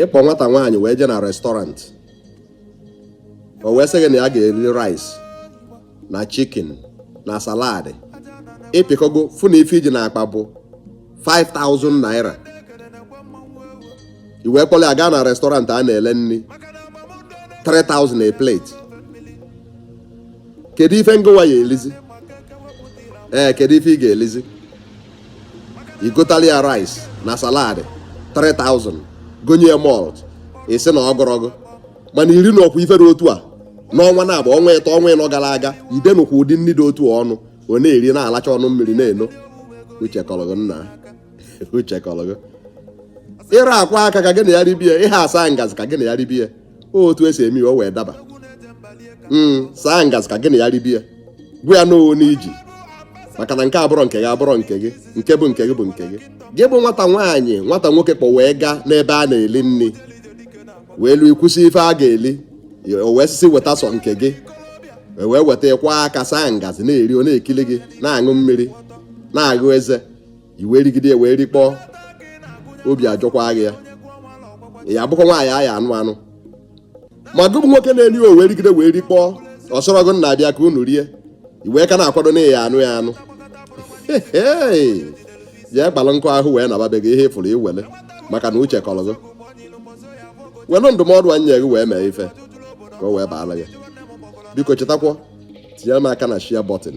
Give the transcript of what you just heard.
ị kpọ nwata nwaanyị wee jee na restaurant o wee sị gị na ya ga-eri rice na chicken na salad ị pịkọgo fụ na ife i ji n'akpa bụ 5000 naira i wee kpọrọ ya gaa na restaurant a na-ele nri 3000 a plate kedu ife ngịwa ya-elizi ee kedu ife ị ga-elizi i gotali ya rice na salad 3000 gonye ya malt ị sị na ọ gụrọ gị mana i rinụkwa ifere otu a n'ọnwa naabọ ọnwa ịtọ ọnwa ịnọ gara aga i denụkwa ụdị nri dị otu a ọnụ ọ na-eri na-alacha ọnụ mmiri na-eno uche kọlọ gị nna uche kọlọ gị ị ra akwọ aka ka gị na ya ribie ị ha asa ngazi ka gị na ya ribie otu e si eme ya o wee daba hmm, saa ngazi ka gị na ya ribie gwa ya n'owo n'iji maka na nke abụrọ nke gị abụrọ nke gị nke bụ nke gị bụ nke gị gị bụ nwata nwaanyị nwata nwoke kpọ wee gaa n'ebe a na-eli nri wee lu i kwusi ife a ga-eli o wee sị sị weta sọ nke gị e wee weta ị kwọ aka saa ngazi na-eri ọ na-ekili gị na-aṅụ mmiri na-aghụ eze i wee rigide wee rikpọọ obi ajọkwa gị ya ya bụkwa nwaanyị a ya-anụ anụ ma gị bụ nwoke na-eri o wee rigide wee rikpọọ ọ sịrọ gị nna bịa ka unu rie i wee ka na-akwado na ị ya-anụ ya anụ jee kpalụ nkụ ahụ wee naba be gị ihe ị fụrụ i wele maka na uche kọrọ gị were ndụmọdụ anyị nye gị wee mee ife ka o wee baara gị biko chetakwa tinyere m aka na share button